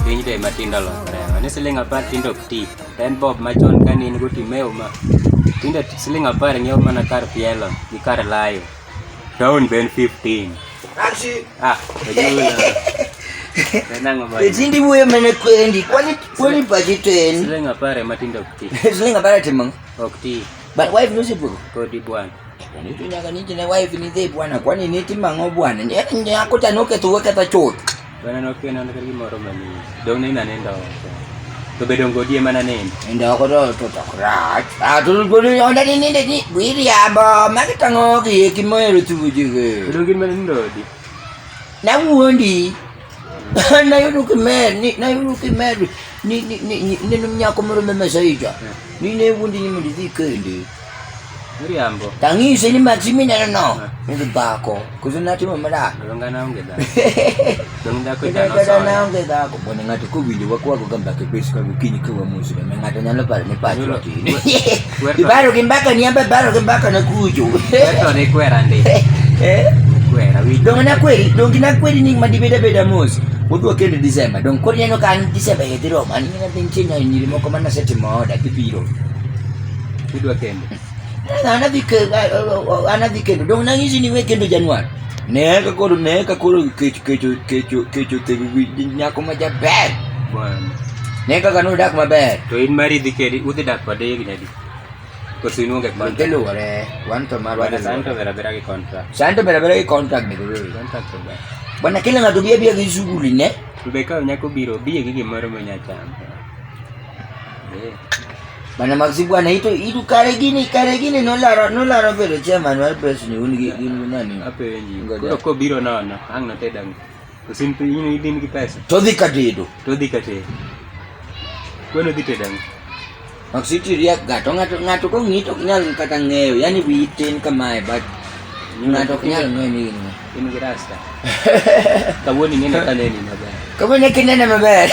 Piny be matindo lokore ma ni siling apar tindo ok ti to en bob machon ka ne in go timeo ma tindo siling apar ng'iewo mana kar pielo gi kar layo town be en 15 ah Tindi wuoyo mana kwendi, kwani kwani pachi to en. Siling apar ema tindo ok ti. Siling apar timo. Ok ti. But wife no sipo. Kodi bwana. Nitu nyaga niti na wife ni zee bwana. Kwani niti mango bwana. Ni nyako ta noke tu weka ta chot. Bwana noke na ndakari moro mani. Dona ina nenda wako. To bedo ngodie mana nini. Nenda wako to to to krat. Ah to ngodi onda ni ninde ni bwiri ya bo. Maki tango ki yeki moyo tu bujige. Bedo ngodi mana ndodi. Na wuondi. nayudo kimer ni nayudo kimer ni ni ni ni ni nyako moro me mesaija ni ne wundi ni mondo idhi kendi Miriambo. tang'ise ni maxi mineno no ni dhi bako koso natimo madak Donga na onge da. Donga ko da no Kata so. naonge dhako mondo ng'ato kowinjo wakwago ga mbaka bes ka gokinyi ka wamosre ma ng'ato nyalo paro ni pacho Yulo- tin Ibaro gi mbaka ni amba baro gi mbaka na kujo. Weto ni kwera ndi. Eh? Kwera wi. Dong na kweri, dong na kweri ni madibeda beda mos. Wodwa kende December. Dong kodi neno kan December ye diro man ni na ding chinya nyiri moko man na seti moda kibiro. Wodwa kende. Ana dikendo, ana dikendo. Dong na ngisi ni we kendo Januari. Ne ka koro ne ka koro kecho kecho kecho kecho tego gi nyako ma jaber. Bwana. Ne kaka nodak maber. To in mari dhi kedi udhi dak kode higni adi? Koso in onge Wan kontra? luwore, wan to marwa Bwana santo luwore. vera vera gi kontra. Santo bera bera gi contract nego wewe. Kontra to ber. Bwana kila ng'ato biya biya gi shughuli ne. To be ka nyako biro biye gi gimoro ma nyacham. Eh. Mana maxi bwana ito itu kare gini kare gini no laro no laro bedo chairman mar press ni un gi un nani. Ape wenji. Koro ko biro nono ang na tedang. Usin pe ini din gi pesa. To dhi katedo. To dhi katedo. Kweno dhi tedang. Maxi tiria gato ngato ngato ko ngito nyal kata ngeyo yani witin kamae but ngato nyal ngeyo ni. Ingrasa. Kawoni ngene kaleni na ba. Kawoni kinene mabaya.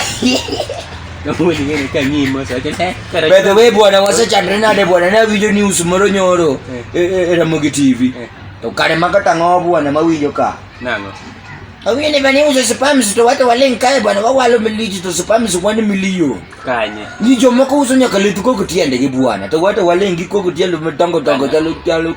Kawoni ngene kanyi mo sa kene. By the way bwana wasa chandre na de bwana na video news moro nyoro. Eh. Era mogi TV. Eh. To kare makata ngo bwana mawinjo ka. Nango. Awinyo ni bani uzo spams to watu wale nkae bwana wawalo miliji to spams wani miliyo. Kanye. Ni jomo ko uzo nyaka letu ko kutiende gi bwana. To watu wale ngi ko kutiende mtongo tongo talo talo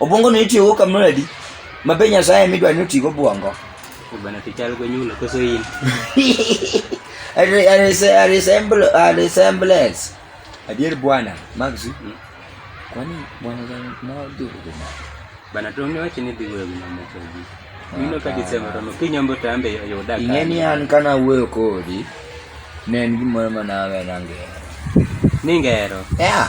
Obwongo ni itiyo go kamradi. Mabe Nyasaye midwa ni otigo bwongo. Bana pichal go nyulo koso in. A re- a rese- a resemble- a resemblance. Adier bwana, Max. Mm. Kwani bwana gani ma odhi ugo ma? Bana to ne wachini dhi wewe na moko gi. Mino ka Desemba romo piny ombo tambe yuda ka. Ing'e ni an kana wuoyo kodi, ne en gimoro ma nawe nang'eyo. Ningero. Yeah.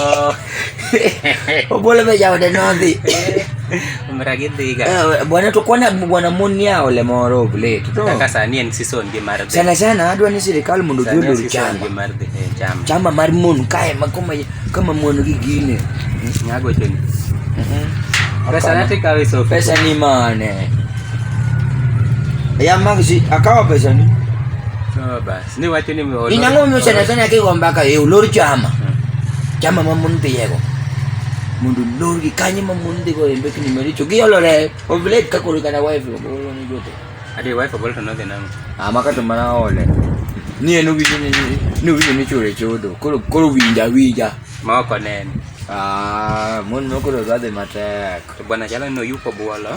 Oh. Obole be jaode nodhi. Umra gidhi ga. Eh, bwana to kwana bwana moni yao le moro ble. To kaka sani en season gi mar. Sana sana adwa ni sirikal mondo gi odur chamba. Mar dhi eh, chamba. Chamba mar mon kae ma kama kama mon gi gine. Nyago cheni. Mhm. Pesa nati kawi so. Pesa ni mane. Ya magzi akawa pesa ni. So bas. Ne wacho ni molo. Inango mi sana sana ke gomba ka e ulor chama. Chama ma mun tiego. Mundu lor gi kanyi ma mun tiego e mbeki ni maricho. Gi olore ovlet ka kuru kana wife lo bolo ni jote. Ade wife bolo to no de nang. Ama ka to mana ole. Ni enu gi ni ni wi ni chore chodo. Koro koro winja winja. Ma ko nen. Ah, mun no koro gade matek. To bwana jala no yupo bolo.